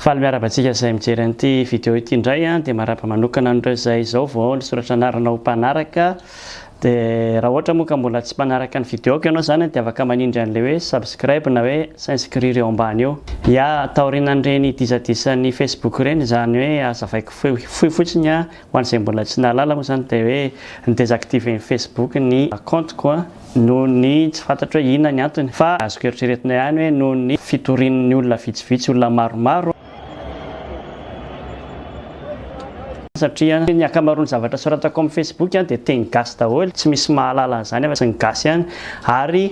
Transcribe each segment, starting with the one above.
Faly miarahaba antsika izay mijery an'ity vidéo ity indray an, dia marahaba manokana an'ireo izay izao vao nisoratra anarana ho mpanaraka dia raha ohatra moa ka mbola tsy mpanaraka ny vidéoko ianao izany dia afaka manindry an'ilay hoe subscribe na hoe s'inscrire eo ambany eo. Ya, taorianan'ireny dizadisan'ny Facebook ireny izany hoe azavaiko fohy fotsiny an, Ho an'izay mbola tsy nahalala moa izany dia hoe ni-desactiver-n'ny Facebook ny kaontiko noho ny tsy fantatro hoe inona ny antony fa azoko eritreretina ihany hoe noho ny fitorian'ny olona vitsivitsy, olona maromaro, satria ny ankamaroan'ny zavatra soratako amin'ny Facebook dia teny gasy daholo, tsy misy mahalala an'izany afa-tsy ny gasy ihany ary.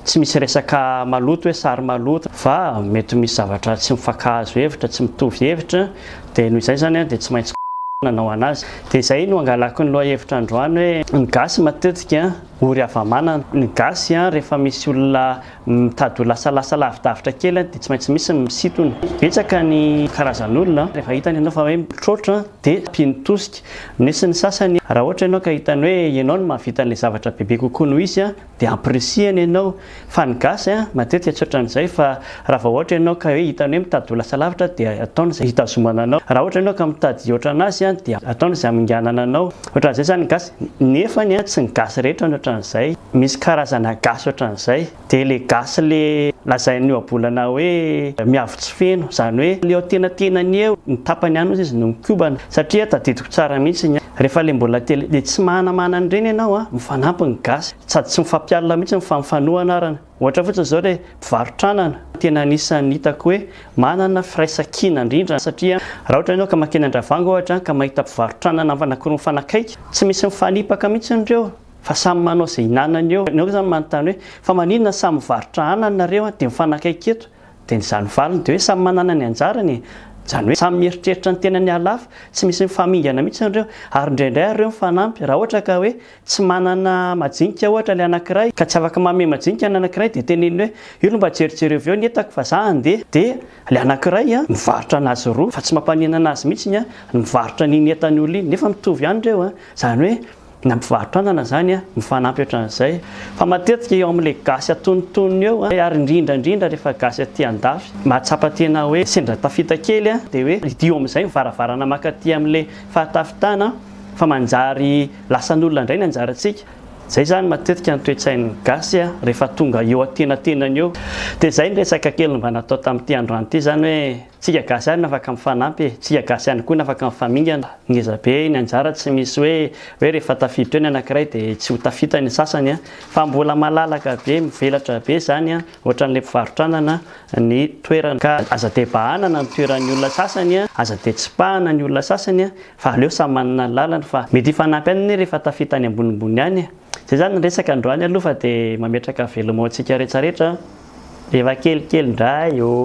Tsy misy resaka maloto hoe sary maloto fa mety misy zavatra tsy mifankahazo hevitra, tsy mitovy hevitra dia noho izay izany dia tsy maintsy nanao anazy. Dia izay no angalako ny lohahevitra androany hoe ny gasy matetika ory hava-manana. Ny gasy rehefa misy olona mitady ho lasalasa lavidavitra kely dia tsy maintsy misy ny misintona. Betsaka ny karazan'olona rehefa hitany ianao fa hoe mitroatra dia mpino tosika. Misy ny sasany raha ohatra ianao ka hitany hoe ianao no mahavita an'ilay zavatra bebe kokoa noho izy Dia ampirisihana ianao. Fa ny gasy an, matetika tsy ohatran'izay fa raha vao ohatra ianao ka hoe hitany hoe mitady ho lasa lavitra dia ataony izay hitazomana anao. Raha ohatra ianao ka mitady hihoatra anazy an, dia ataony izay haminganana anao. Ohatran'izay izany ny gasy. Nefany an, tsy ny gasy rehetra no ohatran'izay. Misy karazana gasy ohatran'izay. Dia ilay gasy le lazain'ny ohabolana hoe miavo tsy feno. Izany hoe le eo antenatenany eo, ny tapany any ozy izy no mikobana. Satria tadidiko tsara mihitsy ny ahy. Refa le mbola kely le tsy mahanamahana an'ireny ianao a, mifanampy ny gasy sady tsy mifampialona mihitsy fa mifanoa anarana. Ohatra fotsiny zao le mpivarotr'anana, tena anisan'ny hitako hoe manana firaisankina indrindra satria raha ohatra ianao ka mankeny Andravango ohatra ka mahita mpivarotr'anana anankiroa mifanakaiky, tsy misy mifanipaka mihitsy ireo fa samy manao ze hinanany eo. Ianao zany manontany hoe fa maninona samy mivarotra anana nareo de mifanakaiky eto Dia ny izany valiny dia hoe samy manana ny anjarany e! Izany hoe samy mieritreritra ny tenany halafo, tsy misy mifamingana mihitsy ireo, ary indraindray ary ireo mifanampy, raha ohatra ka hoe tsy manana majinika ohatra ilay anankiray ka tsy afaka manome majinika ny anankiray dia teneniny hoe io aloha mba jerijereo avy eo ny entako fa za handeha, dia ilay anankiray an, mivarotra anazy roa fa tsy mampanenana azy mihitsy ny an, ny mivarotra an'iny entany olona iny, nefa mitovy ihany ireo an, izany hoe. na mpivarotra anana izany a, mifanampy ohatran'izay fa matetika eo amin'ilay gasy antonontonony eo a, ary indrindra indrindra rehefa gasy aty andafy mahatsapa tena hoe sendra tafita kely a, dia hoe hidio amin'izay ny varavarana mankaty amin'ilay fahatafitana fa manjary lasan'olona indray ny anjarantsika, izay izany matetika ny toe-tsain'ny gasy a, rehefa tonga eo antenatenany eo, dia izay ny resaka kely mba natao tamin'ity androany ity izany hoe. Tsika gasy ihany no afaka mifanampy e, tsika gasy ihany koa no afaka mifamingana, ngeza be ny anjara tsy misy hoe hoe rehefa tafiditra eo ny anakiray de tsy ho tafita ny sasany an, fa mbola malalaka be mivelatra be zany an, ohatran'le mpivarotranana ny toerana ka aza de bahanana ny toeran'ny olona sasany an, aza de tsipahana ny olona sasany an, fa aleo samy manana ny lalany fa mety hifanampy ihany anie rehefa tafita any ambonimbony any e. Zay zany ny resaka androany aloha fa dia mametraka veloma antsika retraretra rehefa kelikely indray oh.